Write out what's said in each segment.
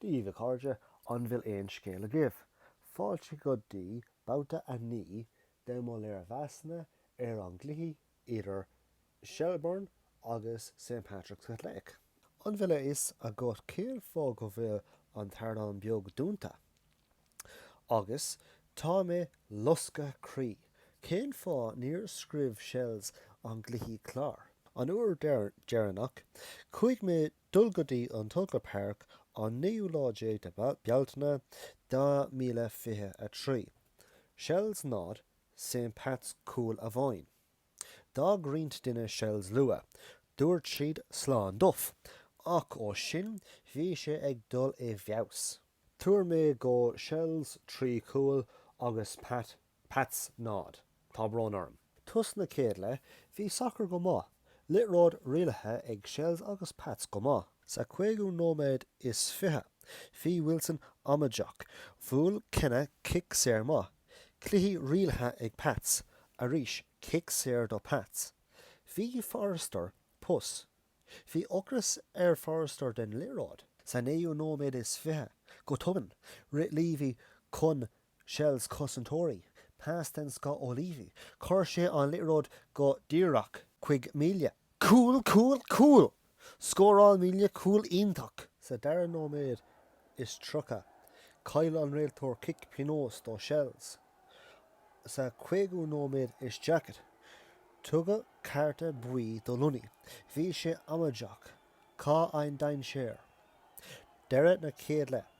Daoibh, a chairde, an bhfuil aon scéal agaibh? Fáilte go dtí babhta a naoi de mo léirmheasanna ar an gcluiche idir Shelbourne agus St Patrick's Athletic. An bhfuil a fhios agat cén fáth go bhfuil an t-ardán beag dúnta? Agus tá mé loscadh croí. Cén fáth níor scríobh Shels an gcluiche clár? An uair deireanach chuaigh mé dul go dtí an Tolka Park an naoú lá déag de Bealtaine 2023. Shels 0, St Pats cúl amháin. D'fhág roinnt duine Shells luath. Dúirt siad 'Slán Duff'. Ach ó sin bhí sé ag dul i bhfeabhas. Tuar mé go Shells 3 chúl agus Pat, Pats 0. Tá brón orm. Tús na chéad leith bhí sacar go maith. Liathróid rialaithe ag Shells agus Pats go maith. Sa cúigiú nóiméad is fiche bhí Wilson amaideach. Bhuail Keena cic saor maith. Cluiche rialaithe ag Pats, arís cic saor do Pats. Bhí Forrester, pus. Bhí ocras ar Forrester den liathróid. Sa naoú nóiméad is fiche, go tobann, rith Leavy chun Shells cosantóirí, pas den scoth ó Leavy, chuir sé an liathróid go díreach chuig Melia. Cúl, cúl, cúl! Scóráil Melia cúl iontach sa dara nóiméad is tríocha. Chaill an réiteoir cic pionóis do Shels sa cúigiú nóiméad is daichead. Tugadh cárta buí do Lunney. Bhí sé amaideach. Cén dainséar? Deireadh na chéad leith.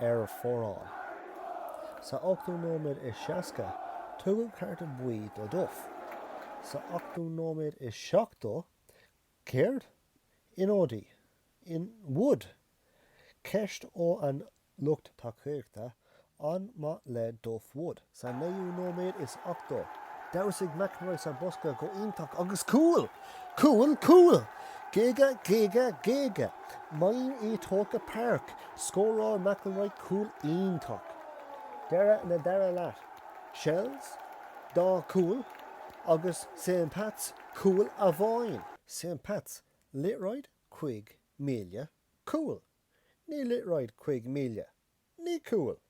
ar fóraoil. Sa ochtú nóiméad is seasca, tugadh cárta buí do Duff. Sa ochtú nóiméad is seachtó, céard? Ionadaí? In Wood? Ceist ó an lucht tacaíochta, an maith le Duff Wood? Sa naoú nóiméad is ochtó, damhsaigh McInroy sa bhosca go iontach agus cúl! Cúl! Cúl! Géaga! Géaga! Géaga! Mayhem i Tolka Park! Scóráil McInroy cúl iontach. Deireadh na dara leath. Shels, dá cúl agus St Pats cúl amháin. St Pats, liathróid chuig Melia, cúl! Ní liathróid cuig míle! Ní cúl!